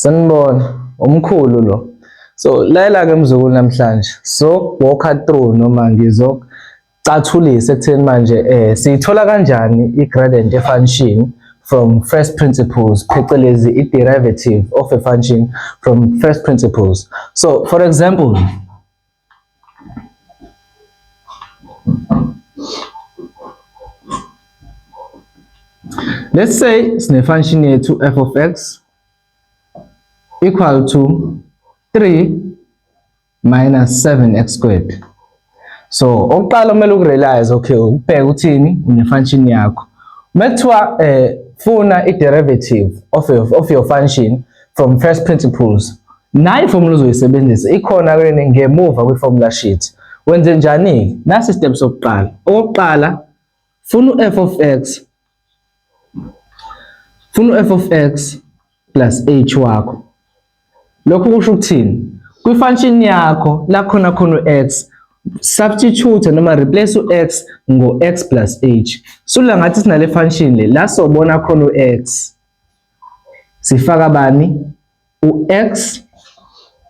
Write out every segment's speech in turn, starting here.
Sanibona, umkhulu lo. So layela ke mzukulu namhlanje. So walk through noma ngizocathulisa ekutheni manje eh siyithola kanjani i-gradient function from first principles phecelezi i-derivative of a function from first principles. So for example Let's say sine function yethu f of x equal to 3 minus 7x squared. So okuqala kumele ukurealize okay ubheke uthini une function yakho. Mekuthiwa eh funa i derivative of your, of your function from first principles Nayi formula uzoyisebenzisa ikhona kweni ngemuva kwi-formula sheet. Wenze njani-ke? Nasi step sokuqala. Okokuqala, funa u-f of x funa u-f of x plus h wakho. Lokhu kusho ukuthini? Kwi-function yakho la khona khona u-x substitute noma replace u-x ngo-x plus h. Sula ngathi sinale function le la sobona khona u-x sifaka bani u-x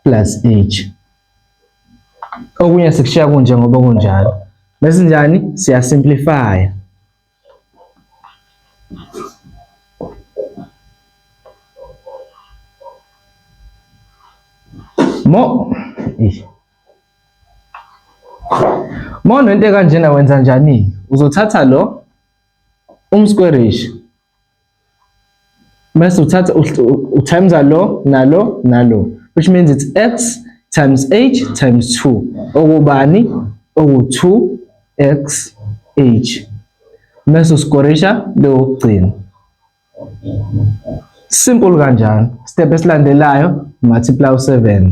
plus h okunye sikushiya kunje ngoba kunjalo bese njani siya simplify mo mo nento kanjena wenza njani uzothatha lo umsquarish Mase uthatha utimesa lo nalo nalo which means it's x times h times 2 okubani oku-2x h mese usikorisha leyokugcina simple kanjalo step esilandelayo multiply u-7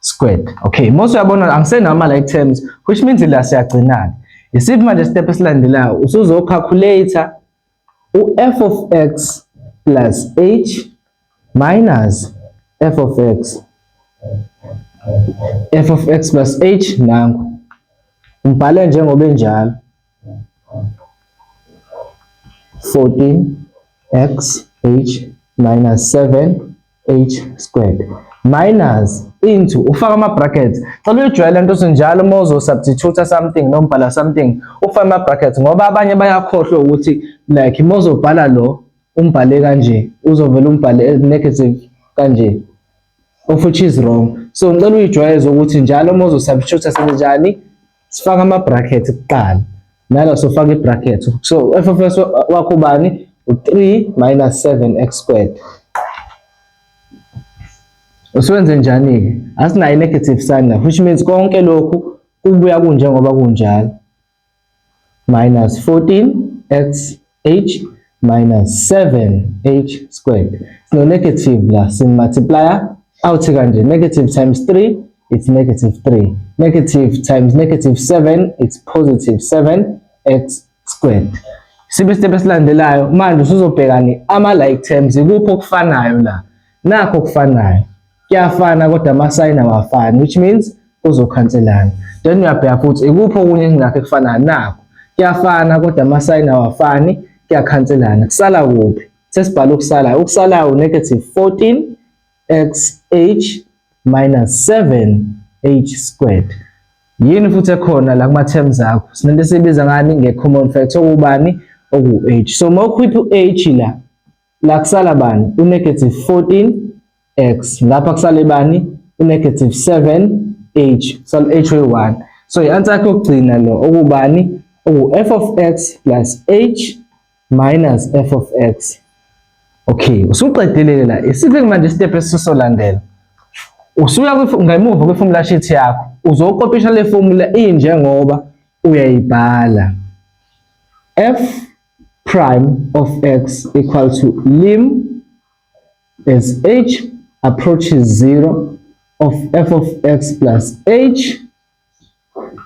squared okay mose uyabona angisenama like terms which means la siyagcinana isiphi manje step esilandelayo usuzo calculator u f of x plus h minus f of x f of x plus h nangu umbhale njengoba enjalo 14x h minus 7 h squared minus into ufaka ama brackets cela uyijwayele into sinjalo uma uzo substitute something noma ubhala something ufaka ama brackets ngoba abanye bayakhohlwa ukuthi like uma uzobhala lo umbhale kanje uzovela umbhale negative kanje of which is wrong so ngicela uyijwayeze ukuthi njalo uma uzo substitute senzenjani sifaka ama bracket kuqala nala sofaka i bracket so f of x wakho bani u3 minus 7x squared usewenze njani ke asinayo negative sign la which means konke lokhu kubuya kunjengoba kunjalo minus 14x h minus 7h squared. So negative la sin multiplier out kanje negative times 3 it's negative 3. Negative times negative 7 it's positive 7x squared. Sibe step esilandelayo manje usuzobheka ni ama like terms ikuphi okufanayo la. nakho okufanayo kuyafana kodwa amasayini awafani which means kuzokhanselana then uyabheka futhi ikuphi okunye engakho ekufanayo nakho kuyafana kodwa amasayini awafani kuyakhanselana kusala kuphi sesibhala ukusalayo ukusalayo u-negative 14 xh minus 7 h squared yini futhi ekhona la kuma-terms akho sinento esiyibiza ngani nge-common factor okubani oku-h so uma ukhipha u-h la la kusala bani unegative 14x lapha kusale bani unegative 7h kusala h we-1 so i-answer yakhe yokugcina lo okubani oku-f of x plus h minus f of x okay usuqedelele la isiphi manje isitepu esisolandela usuya ngemuva kwe-formula sheet yakho uzokopisha le formula injengoba uyayibhala f prime of x equal to lim as h approaches 0 of f of x plus h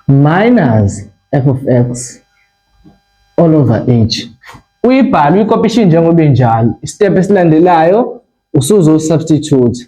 minus f of x all over h uyibhala uyikopisha njengoba injalo step esilandelayo usuzo substitute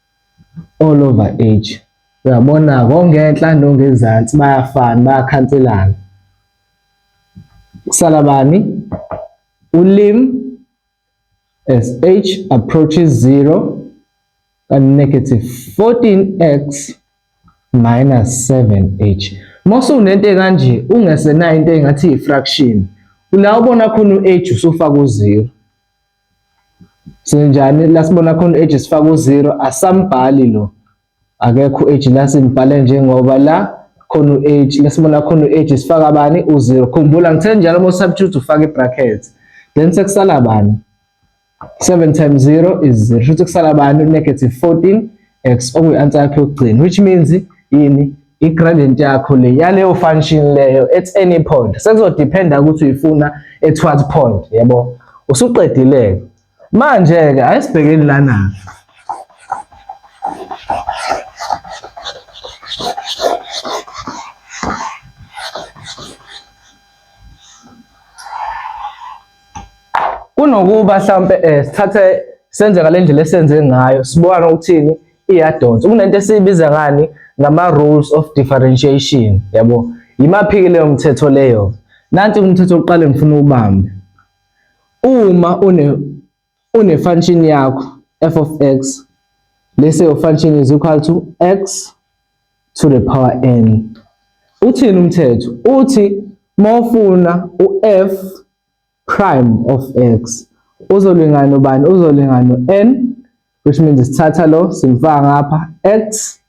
all over age uyabona kongenhla nongezansi bayafana bayakhanselana kusala bani ulim as h approaches 0 and negative 14x minus 7h mose unento kanje ungesenayo into engathi i-fraction la ubona khona u-h usufaka u-0 Senjani la sibona khona u-age sifaka u-zero asambhali lo akekho u-age la simbhale njengoba la khona u-age la sibona khona u-age sifaka bani u-zero khumbula ngithe njalo uma usubstitute ufaka i-bracket then sekusala bani 7 times 0 is 0 shuthi kusala bani negative 14 x okuyi answer yakho yokugcina which means yini i gradient yakho le yaleyo function leyo at any point sekuzodependa ukuthi uyifuna at what point yebo usuqedileke manje ke ayisibhekeni lana kunokuba mhlawumpe um eh, sithathe senze ngale ndlela esenze ngayo sibona ukuthini iyadonsa kunento esiyibiza ngani ngama-rules of differentiation yabo yimaphi-ke leyo mthetho leyo nanti umthetho oqale ngifuna ubambe uma une Une-function yakho f of x bese your function is equal to x to the power n. Uthini umthetho? Uthi mawufuna u-f prime of x uzolingana ubani? Uzolingana u-n which means sithatha lo simfaka ngapha x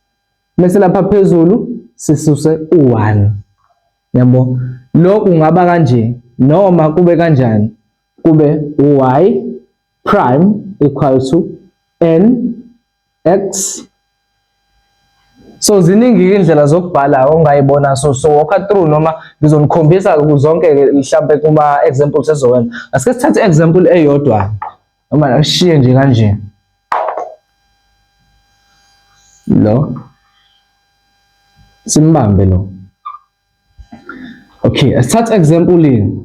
bese lapha phezulu sisuse u-1 yabo lokhu kungaba kanje noma kube kanjani kube y prime equal to n x so ziningi indlela zokubhala ongayibona so so walk through noma ngizonikhombisa zonke mhlambe kuma examples ezokwenza asike sithathe example eyodwa noma ashiye nje kanje lo simbambe lo okay asithathe example ini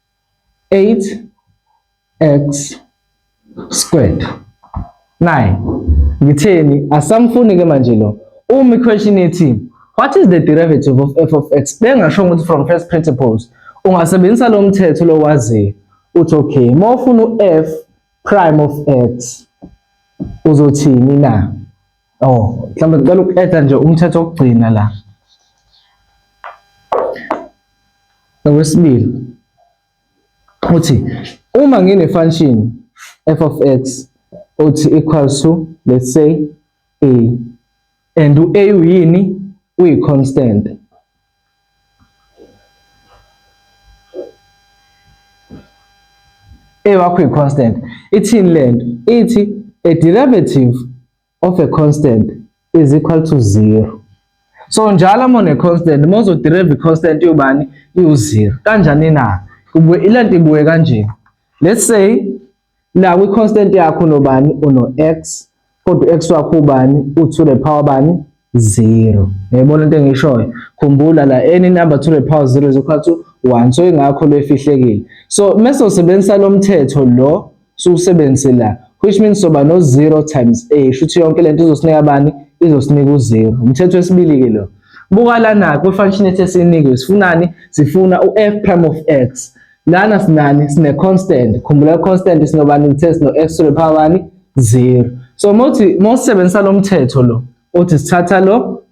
8x squared 9 ngitheni asamfuni ke manje lo uma iquestion ethi what is the derivative of f of x bengasho ukuthi from first principles ungasebenzisa lo mthetho lo waziyo uthi okay uma ufuna u-f prime of x uzothini na Oh, mhlawumbe ngicela uku-add-a nje umthetho wokugcina la. Okwesibili uthi uma ngine-function f of x othi equals to let's say a and u-a uyini uyi-constant eyakho i-constant ithini le nto ithi a derivative of a constant is equal to zero so njalo uma une-constant uma uzoderive i-constant yobani iwu-zero kanjani na ile nto ibuye kanje let's say la kwi constant yakho unobani uno x kodwa x wakho ubani u to the power bani 0 yayibona into engishoyo khumbula la any number to the power 0 is equal to 1 so ingakho lefihlekile so mase usebenzisa lomthetho lo siwusebenzise la which means soba no 0 times a shuthi yonke lento izosinika bani izosinika u0 umthetho wesibili ke lo buka lana kwi function ethe sinikwe sifunani sifuna u f prime of x Lana sinani sine constant. Khumbula constant sinobani ngithe sino x to the power bani 0. So mothi mosebenzisa lo mthetho lo othi sithatha lo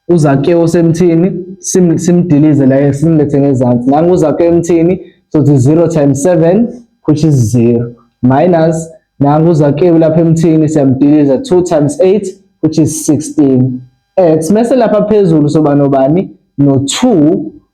uzake osemthini sim simdilize la simlethe ngezansi. Nangu uzake emthini so it's 0 times 7 which is 0 minus nangu uzake lapha emthini siyamdiliza 2 times 8 which is 16 x mese lapha phezulu soba nobani no 2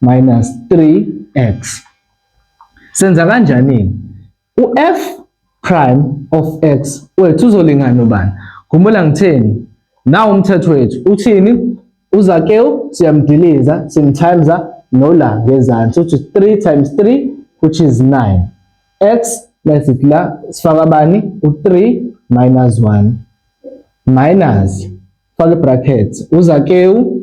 minus 3x. Senza kanjani? U-f prime of x wethu uzolingana ubani? Khumbula ngitheni? Nawu umthetho wethu uthini? Uzakewu siyamdiliza simtimesa nola ngezansi uthi 3 times 3 which is 9 x besithi la sifaka bani u3 minus 1 minus faka bracket uzakewu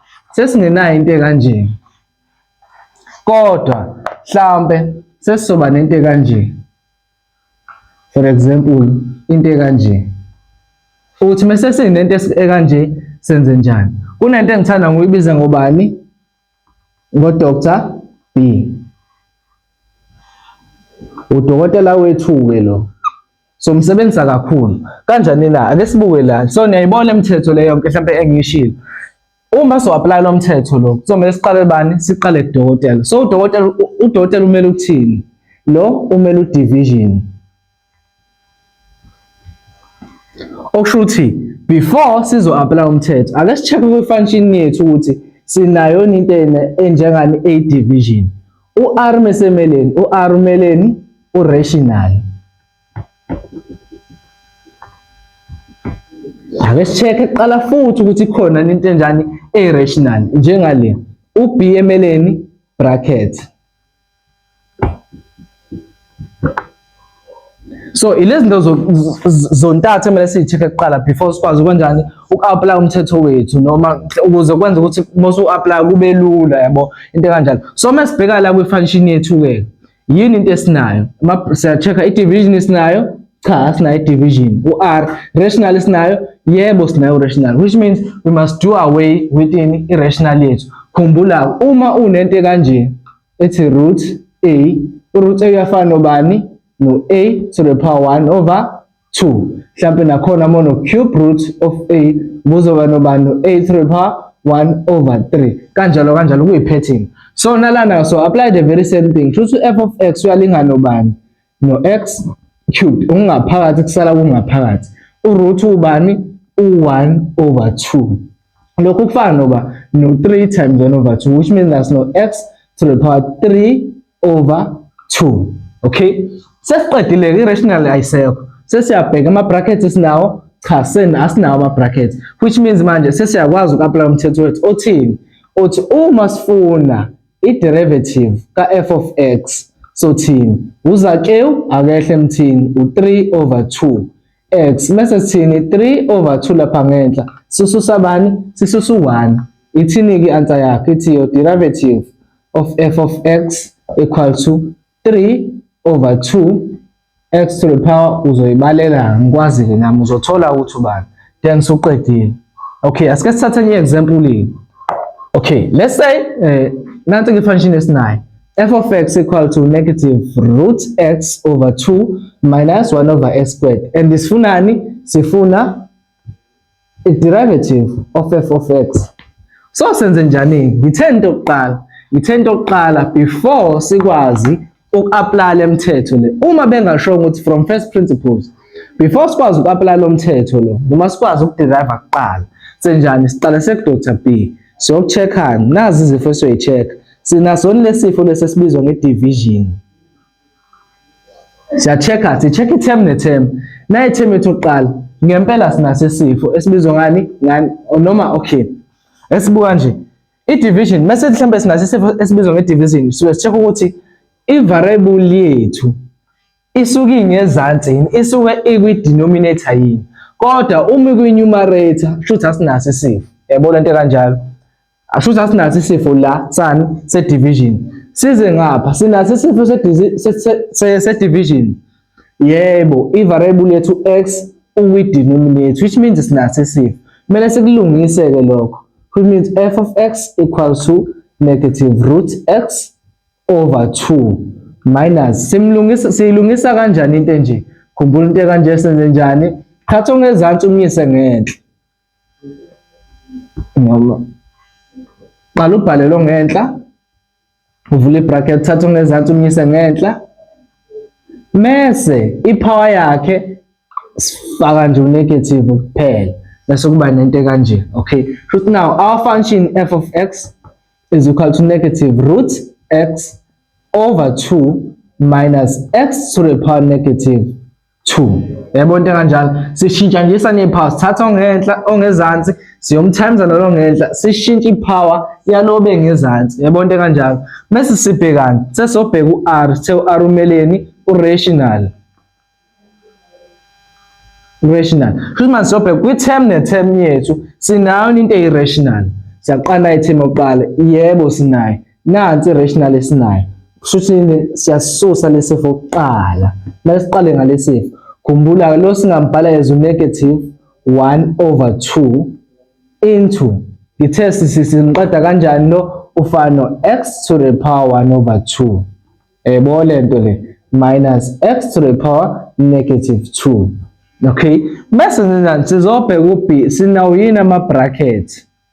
sesingenayo into ekanje kodwa mhlambe sesizoba nento ekanje for example into ekanje uthi mase sinento ekanje senze njani kunento engithanda ngoyibiza ngobani ngo Dr B udokotela wethu ke lo so msebenzisa kakhulu kanjani na ake sibuke la so niyayibona imithetho le yonke mhlawumbe engiyishilo uma so apply lo mthetho lo kuzomele siqale bani siqale dokotela so udokotela udokotela umele uthini lo umele udivision okusho ukuthi before sizo apply umthetho ake sicheck kwi function yethu ukuthi sinayo into enjengani a division U-R mesemeleni, u-R umeleni u-rational. Ake sicheke kuqala futhi ukuthi khona into enjani e-rational njengale. U-B emeleni bracket. so ilezi zinto zontathu emele siyi-check-e kuqala before sikwazi ukwenjani uku-aplaya umthetho wethu noma ukuze kwenza ukuthi uma usu-aplaya kube lula yabo into ekanjalo so uma sibheka la kwi-function yethu-ke yini into esinayo siya-check-a i-division esinayo cha sinayo i-division u-r rational esinayo yebo sinayo rational which means we must do away within i-rational yethu khumbula uma unento kanje ethi root a uroot a uyafana nobani no a to the power 1 over 2 mhlampe nakhona mono cube root of a kuzoba nobani no a to the power 1 over 3 kanjalo kanjalo kuyi pattern so nalana so apply the very same thing futhi f of x uyalingana nobani no-x cubed okungaphakathi kusala kungaphakathi uroot ubani u-1 over 2 lokhu kufana noba no-3 times 1 over 2 which means that's no x to the power 3 over 2 okay sesiqedile i-rational ayisekho sesiyabheka ama-brackets esinawo cha sen asinawo ama-brackets which means manje sesiyakwazi uku-aplaya umthetho wethu othini othi uma sifuna I-derivative ka-f of x sothini uzakewu akehle emthini u-3 over 2 x mese sithini 3 over 2 lapha ngenhla sisusa bani sisusa u-1 ithini-ke i-answer yakhe ithi your derivative of f of x equal to 3 over 2 x to the power uzoyibalela ngikwazi-ke nami uzothola ukuthi ubani then suqedile okay asike sithathe enye example okay let's say eh, nansi ke function esinayo f of x equal to negative root x over 2 minus 1 over x squared and isifunani sifuna i-derivative of f of x so senze njani ngithe into yokuqala ngithe into yokuqala before sikwazi uku-apply le mthetho le uma bengashongo ukuthi from first principles before sikwazi uku-apply lo mthetho lo noma sikwazi ukuderiva kuqala senjani siqale sekudr b siyoku-check-ani nazi izifo esiyoyi-check-a sinasoni lesifo lesi esibizwa nge-division siya-check-a si-check i-term ne-term naye term yethu yokuqala ngempela sinaso isifo esibizwa ngani ngani noma okay esibuka nje i-division mase mhlawumbe sinaso isifo esibizwa nge-division suke si-check ukuthi i-variable yethu isuke ingezansi yini isuke ikwi-denominator yini kodwa uma ikwi-numerator kusho ukuthi asinaso isifo yabo lento kanjalo Ashuthi asinaso isifo la sani se division. Size ngapha sinaso isifo se se division. Yebo, i variable yethu x uyi denominator which means sinaso isifo. Kumele sikulungise ke lokho. Which means f of x equals to negative root x over 2 minus simlungisa siyilungisa kanjani into enje khumbula into kanje senze njani thatha ongezansi umyise ngenhla ngoba qala ubhale lo ngenhla uvule ibracket thatha ongezansi umyise ngenhla mese ipower yakhe sifaka nje unegative kuphela bese kuba nento kanje okay shuthi now our function f of x is equal to negative root x over 2 minus x to the power negative 2 yabo into kanjalo sishintsha nje sanephawu sithatha ongenhla ongezansi siyomthemza nalo ngenhla sishintsha ipower yalobe ngezansi yabo into kanjalo bese sibhekana sesobheka uR sithe uR umeleni urational rational futhi manje sobheka kwi-term ne-term yethu sinayo into eyi-rational siyaqala i-term yokuqala yebo sinayo nansi rational esinayo kushuthi siyasusa lesifo kuqala mase siqale ngalesifo khumbula lo singambhala as negative 1 over 2 into ngithe sisinqeda kanjani lo ufana no x to the power 1 over 2 yebo le nto le minus x to the power negative 2 okay mase sizobheka u b sinawo yini ama bracket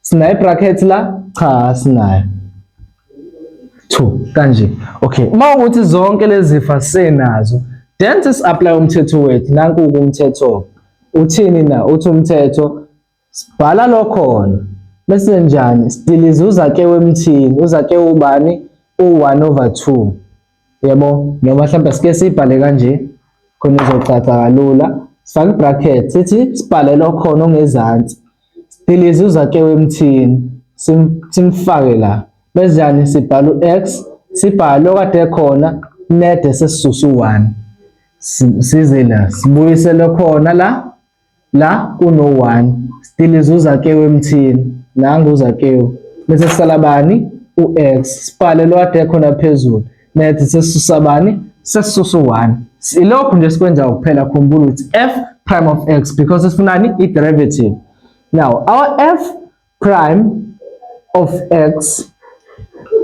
Sinayo bracket la? Cha sinayo. 2 kanje. Okay. Uma ukuthi zonke lezi zifa senazo, then sis apply umthetho wethu. Nanku umthetho. Uthini na? Uthi umthetho sibhala lokhona. Bese njani? Sidiliza uzake wemthini. Uzake ubani? U1 over 2. yebo noma mhlawumbe sike sibhale kanje khona izocaca kalula sifake bracket sithi sibhale lokhona ongezansi sidilize uzakewe emthini simfake la bezani sibhala u-x sibhale okade khona nede sesisusa u-one size la sibuyise lokhona la La kuno one still izuza kewu emthini la nguza kewu bese sisala bani u-x sibhale lo ade khona phezulu net sesisusa bani sesisusa u-1 ilokhu nje sikwenza ukuphela khumbula ukuthi f prime of x because sifunani i-derivative now our f prime of x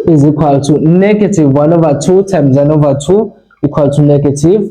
is equal to negative 1 over 2 times 1 over 2 equal to negative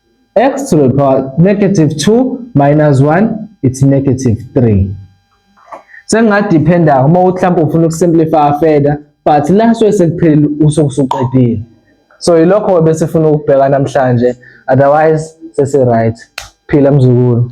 x to the power negative 2 minus 1 it's negative 3 sengingadependa uma mhlawumbe ufuna ukusimplify further but la suke sekuphelile usukusuqedile so yilokho bese funa ukubheka namhlanje otherwise sese right phila mzukulu